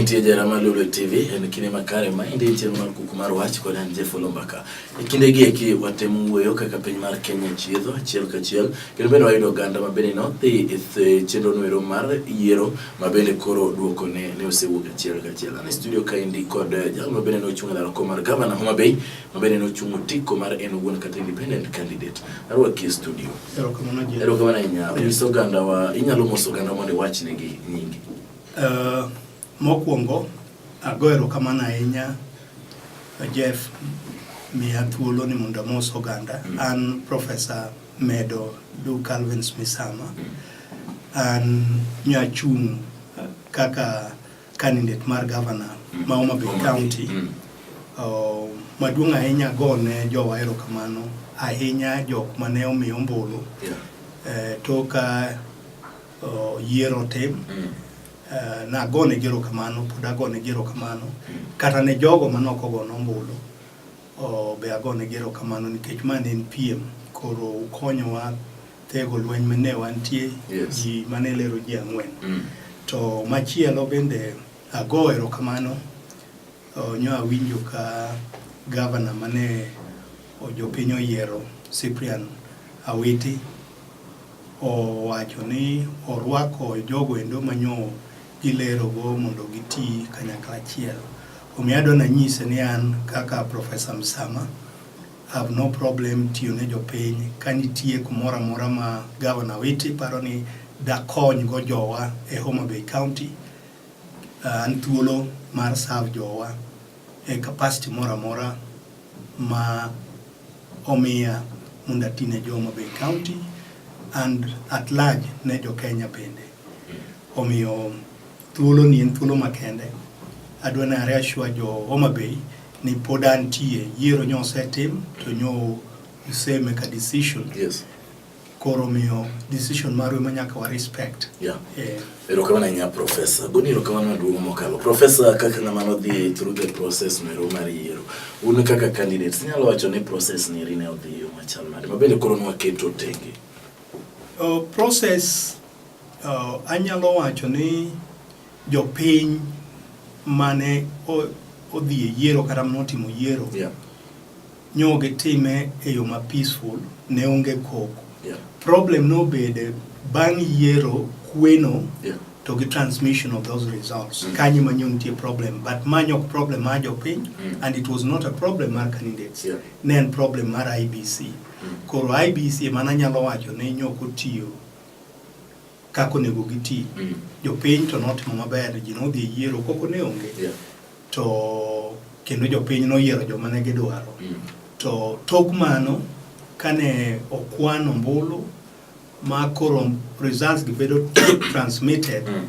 Nitie Jarama Lulu TV en kinde makare ma indi chenro mar kuku mar wach kod an Jeff Olombaka. E kinde gi eki watemo wuoyo kaka piny mar Kenya chiedho achiel kachiel kendo bende wayudo oganda ma bende nodhi e chenro noero mar yiero ma bende koro duoko ne ne osewuok achiel kachiel. An e studio ka indi kod eh, jal ma bende nochung' e laro kom mar gavana Homa Bay mabende nochungo tiko mar en owuon kata independent candidate arwaki e studio erokamano ahinya nyis oganda wa inyalo moso oganda mondo iwachnegi nyingi uh, mokwongo ago erokamano ahinya jeff miya thuolo ni mondo amos oganda mm. an professor medo du calvins misama mm. an nyachung' kaka Candidate mar governor ma Homa Bay County mm. uh, maduong' ahinya go ne jowa erokamano ahinya jok mane omi ombulu yeah. uh, toka uh, yiero tim mm. uh, nagone gi erokamano pod agone gi erokamano mm. kata ne jogo manok ogono ombulu uh, be agone gi erokamano nikech ma ne en piem koro ukonyowa Thego lweny mane wantie yes. ji mane lero ji ang'wen mm. to machielo bende ago erokamano nyo awinjo ka gavana mane jopiny oyiero Cyprian Awiti owacho ni orwako jogo endo manyo gilerogo mondo giti kanyakla achiel. Omiyo adwa nanyise ni an kaka Profesa Msama have no problem tiyo ne jopiny ka nitie kumoro amora ma Governor Witi paro ni dakony go jowa e Homa Bay County uh, an thuolo mar serve jowa e capacity moro amora ma omiya mondo ati ne jo Homa Bay County and at large ne jo Kenya bende omiyo Thuolo ni en thuolo makende. Adwa ni are ashua jo Homa Bay ni pod antie. Yiero nyo osetim to nyo use make a decision. Yes. Koro miyo decision marwe ma nyaka wa respect. Yeah. Eh. Erokamano ahinya Profesa. Goni erokamano maduong' mokalo. Profesa, kaka ng'ama nodhi through the process mero mar yiero, un kaka candidates, inyalo wacho ni process ni rine odhi yo machal nade? Mabende koro nwaketo tenge. Uh, process Anyalo wacho ni jopiny mane odhi e yiero kata mane otimo yiero yeah. nyo gitime e yo ma peaceful ne onge koko yeah. problem nobede bang' yiero kweno yeah. to gi transmission of those results mm. kanyo ma nyo nitie problem but manyo ok problem mar jopiny mm. and it was not a problem mar candidates yeah. ne en problem mar IBC mm. koro IBC emana nyalo wacho ne nyok otiyo kaka onego giti. Mm. Jopiny to notimo maber, ji nodhi e yiero koko ne onge. Yeah. To kendo jopiny noyiero joma ne gidwaro. Mm. To tok mano, kane okwan ombulu ma koro results gi bedo transmitted mm.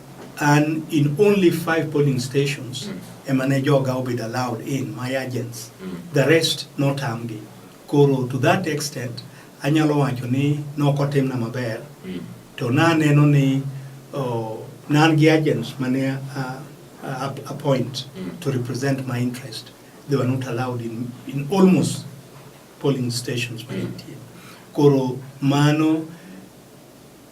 An in only five polling stations mm. ema ne joga obedo allowed in my agents mm. the rest notamgi koro to that extent anyalo wacho ni nokotimna maber mm. to naneno ni oh, nan gi agents mane uh, uh, appoint mm. to represent my interest they were not allowed in, in almost polling stations mm. koro mano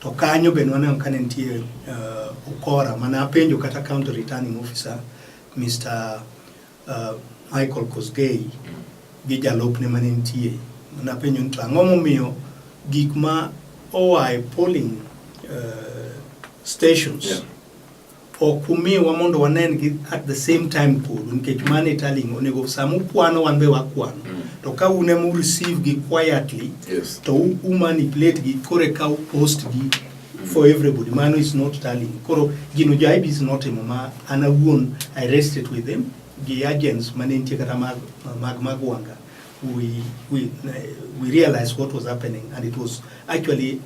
To kanyo be nwaneno ka ne nitie uh, ukora mane apenjo kata county returning officer Mr. Uh, Michael Kosgei gi jalopne mane nitie napenjo ni to ang'o momiyo gik ma oa e polling uh, stations yeah. ok umiwa mondo wanen gi at the same time kodu nikech mano e telling onego sama ukwano wan be wakwano mm. to ka un ema ureceive gi quietly yes. to umanipulate gi kore ka upost gi mm. for everybody mano is not telling koro gino jaibi is not emo ma an awuon i rested with them gi agents mane nitie kata mag mag magwanga we, we, we realized what was happening and it was actually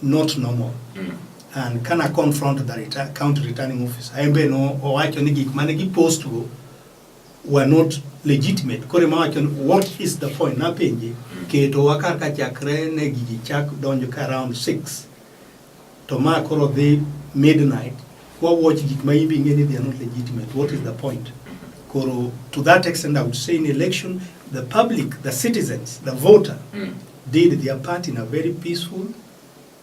not normal mm. And can I confront the return, county returning officer? Embe no owacho ni gik mane gi post go were not legitimate. Kore ma wacho what is the point? Na penje mm. keto wakar ka chakre ne gigi chak donjo ka around 6. To ma koro dhi midnight. Kwa watch gik ma ibi ngeni they are not legitimate. What is the point? Koro to that extent I would say in election the public, the citizens, the voter mm. did their part in a very peaceful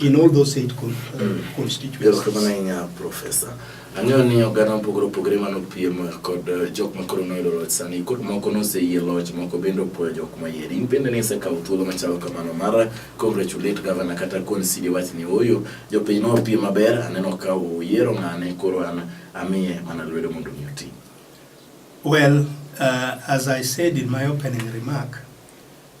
in all those eight con uh, constituencies. Erokamano ahinya Professor. Ang'eyo ni oganda mopogore opogore mano piem kod uh, jok ma koro noyudo loch sani koro moko noseyie loch moko bende opuoyo jok mayieri. In bende nisekawo thuolo machalo kamano mar congratulate governor kata consider wach ni oyo jopiny nopiem maber aneno ka uyiero ng'ane koro an amiye mana lwedo mondo mi oti. Well, uh, as I said in my opening remark,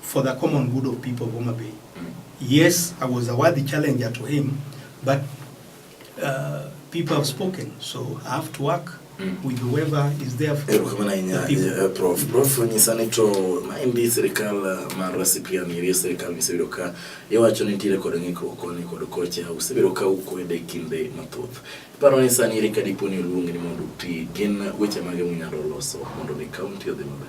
for the common good of people of Homa Bay. Yes, I was a worthy challenger to him, but uh, people have spoken, so I have to work mm. with whoever is there for eh, the people. Eh, prof, prof nyisani to maendi sirikal eh, mar wasipia mirie sirikal misebedo ka iwacho ni nitiere kod ng'ikruok koni kod kocha usebedo ka ukwede kinde mathoth iparo ni sani ere ka dipo ni oluongi ni mondo uti gin weche mage munyalo loso mondo mi kaunti odhi maber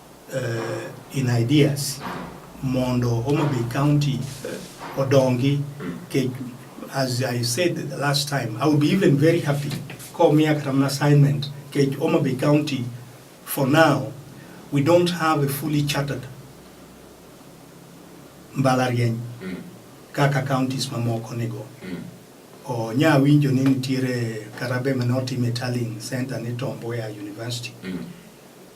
uh, in ideas mondo Homa Bay County uh, odongi ke, as I said the last time I would be even very happy komiya kata mana assignment ke Homa Bay County for now we don't have a fully chartered mbalariany mm. kaka counties mamoko nigo mm. onya winjo ni nitiere karabe mane otim e Tallinn Center ni Tom Mboya University mm.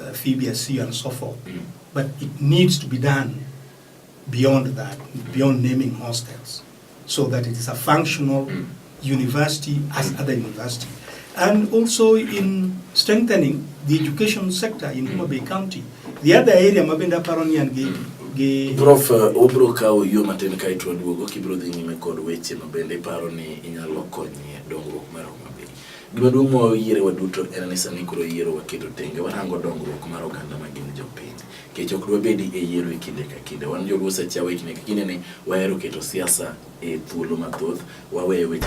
uh, Fibia C and so forth. Mm. But it needs to be done beyond that, beyond naming hostels, so that it is a functional mm. university as mm. other university. And also in strengthening the education sector in Homa Bay County. The other area mabenda paroni and gi gi Prof uh, obro kawo yo matin ka itwa duogo kibro dhi nyime kod weche mabende iparo ni inyalo konye dongruok mar Homa Gima duong' ma wayiere waduto en ni sani koro yiero waketo tenge, warango dongruok mar oganda ma gin jopiny. Nikech ok dwabedi e yiero e kinde ka kinde. Wan joluo seche awa e kinde ka kinde ni wahero keto siasa e thuolo mathoth, waweyo weche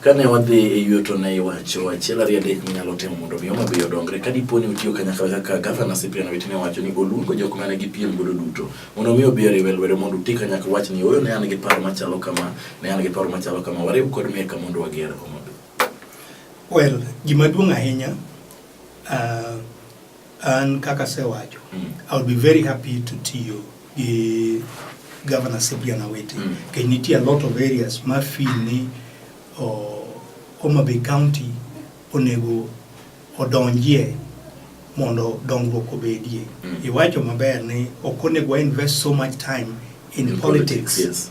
Kane wadhi e yuto ne iwacho achiel ariyo adek minyalo timo mondo mi Homa Bay odongre. Ka dipo ni utiyo kanyakla kaka Gavana Cyprian Owiti ne wacho ni oluongo jok mane gipiem godo duto mondo mi obi oriwe lwedo mondo uti kanyakla wach ni ooyo ne an gi paro machalo kama, ne an gi paro machalo kama, wariw kod Meka mondo wager Homa Bay. Well, gima duong' ahinya uh, An kaka asewacho, mm. I would be very happy to tiyo gi Governor Cyprian Awiti mm. kech nitie a lot of areas ma feel ni oh, Homa Bay County onego odonjie mondo dongruok obedie. Mm. Iwacho maber ni ok onego invest so much time in, in politics, politics yes.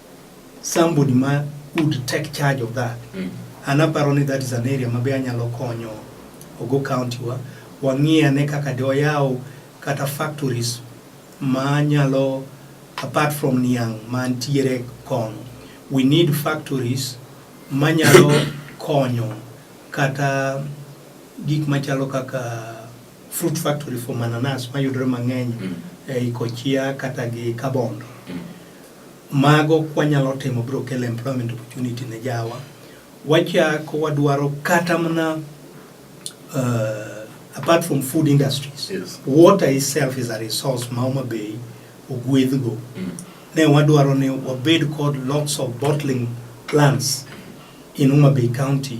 somebody ma would take charge of that mm. an aparo ni that is an area mabe anyalo konyo ogo county wa wang'iye ane kaka de wayaw kata factories ma nyalo apart from niang' mantiere kono we need factories manyalo konyo kata gik machalo kaka fruit factory for mananas mayudore mang'eny mm. e Kochia kata gi Kabondo mm. Mago kwanyalo timo biro kelo employment opportunity ne jawa. Wachak wadwaro kata mana uh, apart from food industries yes. water itself is a resource ma Homa Bay ogwedhgo mm. ne wadwaro ni wabed kod lots of bottling plants in Homa Bay County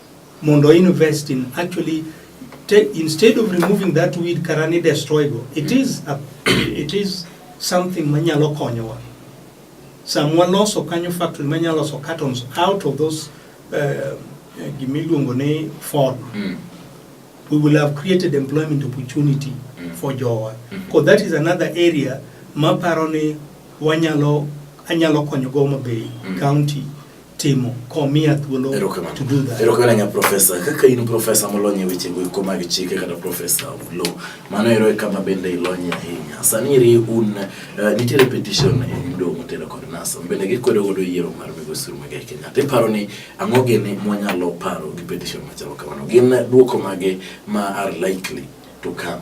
mondo invest in actually instead of removing that weed kara ni destroy go it is a, it is something manyalo konyowa sam waloso kanyo factory manyalo loso cartons out of those uh, gimiluongo ni form mm. we will have created employment opportunity mm. for jowa mm -hmm. that is another area maparo ni wanyalo anyalo konyogo Homa Bay mm. county timo komiya thuolo to do that. Erokamano nya profesa, kaka in profesa molony e weche go eko mag chike kata profesa of law, mano ero e kama bende ilonye ahinya. Sani eri un uh, nitiere petition e mdo motelo kod NASA, bende gikwedo godo yiero mar Migosi Uhuru Muigai Kenyatta. Iparo ni ang'o gini mwanyalo paro gi petition machalo kamano? Gin duoko mage ma are likely to come?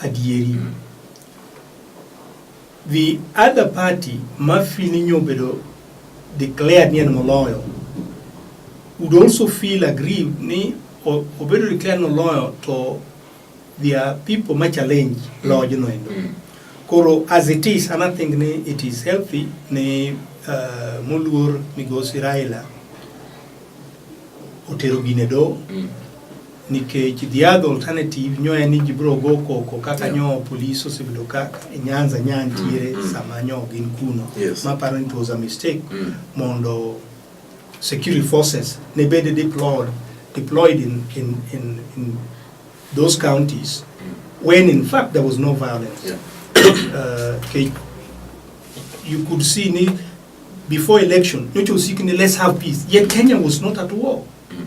adieri. The other party ma feel ni nyobedo declared ni en moloyo would also feel aggrieved ni obedo declared moloyo to their people ma challenge lodge no endo. Mm. Koro as it is, and I think ni it is healthy ni uh, moluor migosi Raila otero gine do mm. nikech the other alternative nyo en ni ji biro go koko kaka yeah. nyo polis osebedo ka e Nyanza nya ntiere mm, mm. sama nyo gin kuno yes. ma paro ni it was a mistake mm. mondo security forces ne bede deployed deployed in, in, in, in those counties mm. when in fact there was no violence yeah. uh, okay. you could see ni before election nyocha usiki ni let's have peace yet Kenya was not at war mm.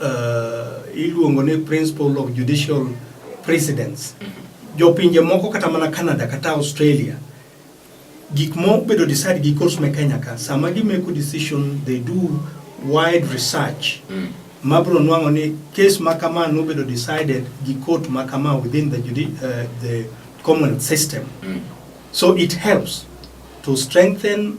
uh, iluongo ni principle of judicial precedence jopinje moko kata mana Canada kata Australia gik mobedo decide gi courts me Kenya ka sama gimeko decision they do wide research mm. mabro nwang'o ni case ma kama nobedo decided gi court ma kama within the, judi uh, the common system mm. so it helps to strengthen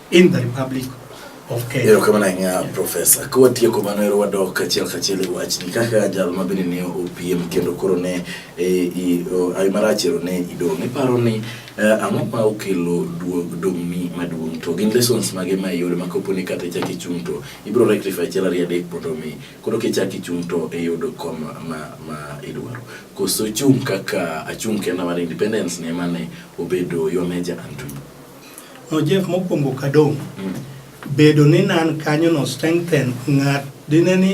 in the Republic of Kenya. Erokamano ahinya Profesa. Ka watieko mano ero wadok kachiel kachiel e wachni kaka jal ma bende ne opiem kendo koro ne e, ayi marach ero ne idong'. Iparo ni e, ang'o ma okelo duog dong'ni maduong' to gin lessons mage ma iyudo ma kopo ni kata ichak ichung' to ibiro rectify achiel ariyo adek mondo mi koro kichak ichung' to iyud e kom ma ma idwaro. Koso chung' kaka achung' kenda mar independence ne mane obedo your major and No Jeff mokwongo kadong mm. bedo ni nan kanyo no strengthen ng'at dine ni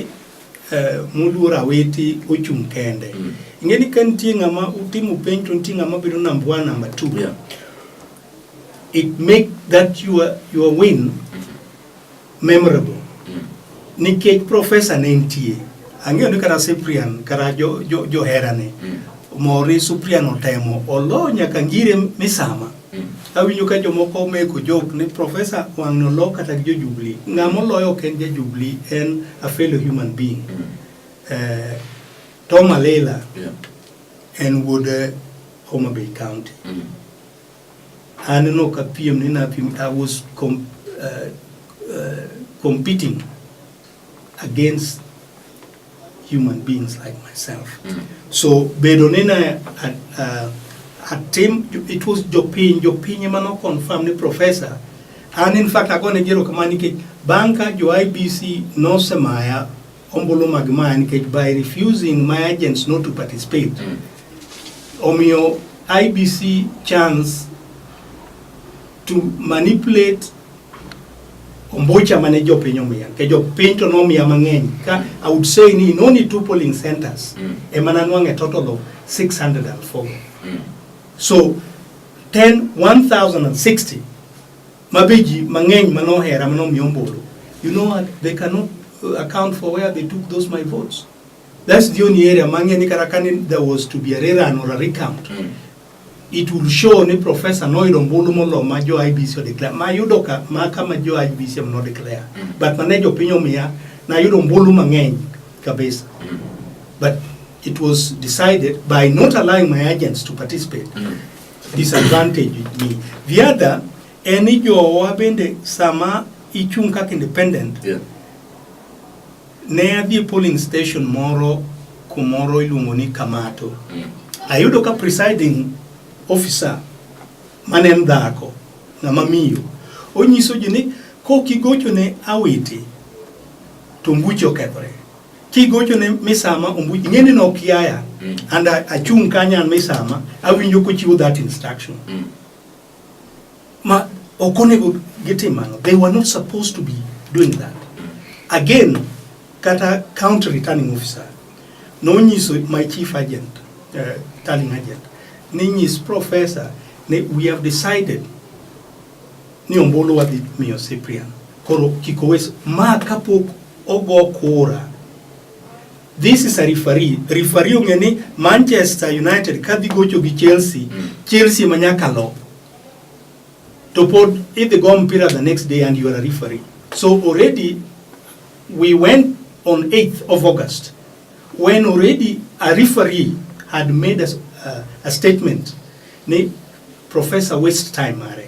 eh, moluor awiti ochung' kende mm. ing'e ni ka nitie ng'ama utimo penj to nitie ng'ama bedo number one number two yeah. it make that your, your win Memorable. Mm. Nikech profesa ne nitie. Ang'eyo ni kata Cyprian kata jo, jo, jo herane. Mm. Mori Cyprian otemo olo nyaka ngire misama. Mm. Awinyo ka jomoko meko jok ni profesa wang' nolo kata jo Jubilee. Ng'ama oloyo ok en ja Jubilee en a fellow human being. Mm. Uh, Tom Alela yeah. en wuod eh, Homa Bay County. Mm. Aneno ka piem ni na piem, I was com, uh, uh, competing against human beings like myself. Mm. So bedo ni na at, uh, at team, it was jopiny, jopiny ema no confirm ni professor. And in fact, agone jero kamani ke banka jo IBC no semaya ombulu mag maya nikech by refusing my agents not to participate mm. omiyo IBC chance to manipulate ombucha mane jopiny omiya ke jopiny to nomiya mang'eny ka I would say ni in only two polling centers mm. ema nanwang' a total of 604 mm. so 10 1060 ma be ji mang'eny ma nohera ma nomiyo ombulu you know what they cannot uh, account for where they took those my votes that's the only area mang'e ni kata kane there was to be a rerun or a recount mm. it will show ni professor noyudo ombulu molo ma jo IBC o declare ma yudo ka ma kama jo IBC am no declare mm. but mane jo piny omiya na yudo ombulu mang'eny kabisa mm. but it was decided by not allowing my agents to participate mm. disadvantage ni the other en ni jowa bende sama ichung' kaka independent Yeah. ne adhi e polling station moro kumoro iluongo ni Kamato Mm. ayudo ka presiding officer mane en dhako ng'ama miyo onyiso ji ni kok igochone awiti to mbuche okethore kigocho ne misama ombuji ng'eni ni ok yaya mm. and achung' kanya an misama awinjo kochiwo that instruction mm. ma ok onego gitim mano they were not supposed to be doing that mm. again kata county returning officer nonyiso my chief agent uh, eh, tallying agent ninyis professor ne we have decided ni ombulu wadhi miyo Cyprian koro kik owes ma kapok ogo kura this is a referee referee ong'e ni Manchester United kadhi gocho gi Chelsea mm. Chelsea ma nyaka lo to pod idhi go mpira the next day and you are a referee so already we went on 8th of August when already a referee had made a, uh, a statement ni professor waste time are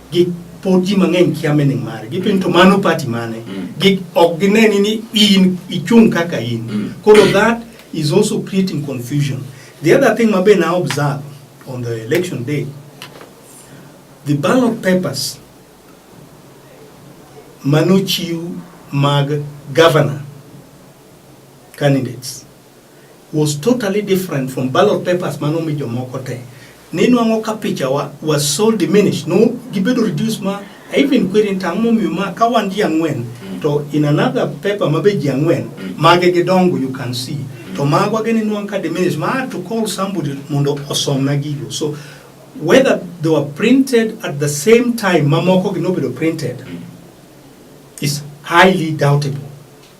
gi pod ji mang'eny kia mening mare gipin to mano party mane mm. gi ok gineni ni in ichung kaka in mm. koro that is also creating confusion the other thing mabe na observe on the election day the ballot papers manochiw mag governor candidates was totally different from ballot papers mane omi jomoko te. Ninwang'o ka pichawa was so diminished, no gibedo reduced ma I even query to ang'omiyo ma ka wan ji ang'wen mm. to in another paper ma be ji ang'wen mm. mage gidongo you can see mm. to magwa gini nwang' ka diminish ma to call somebody mondo osomna gigo so whether they were printed at the same time mamoko gi nobedo printed is highly doubtable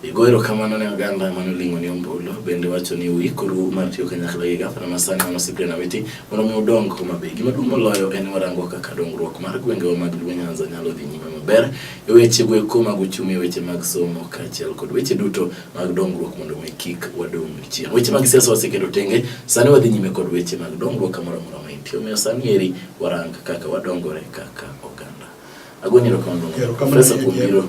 Igoyo erokamano ne oganda mane oling'o ni ombulu bende wacho ni uikoru mar tiyo kanyakla gi gavana ma sani mano Cyprian Awiti mondo mi udong Homa Bay. Gima duong' moloyo en warango kaka dongruok mar gwengewa mag Luo Nyanza nyalo dhi nyime maber e weche go eko mag uchumi, e weche mag somo kaachiel kod weche duto mag dongruok mondo mi kik wadong' chien. Weche mag siasa waseketo tenge, sani wadhi nyime kod weche mag dongruok kamoro amora ma intie. Omiyo sani eri warang kaka wadongore kaka oganda. Agonyi erokamano Profesa kuom biro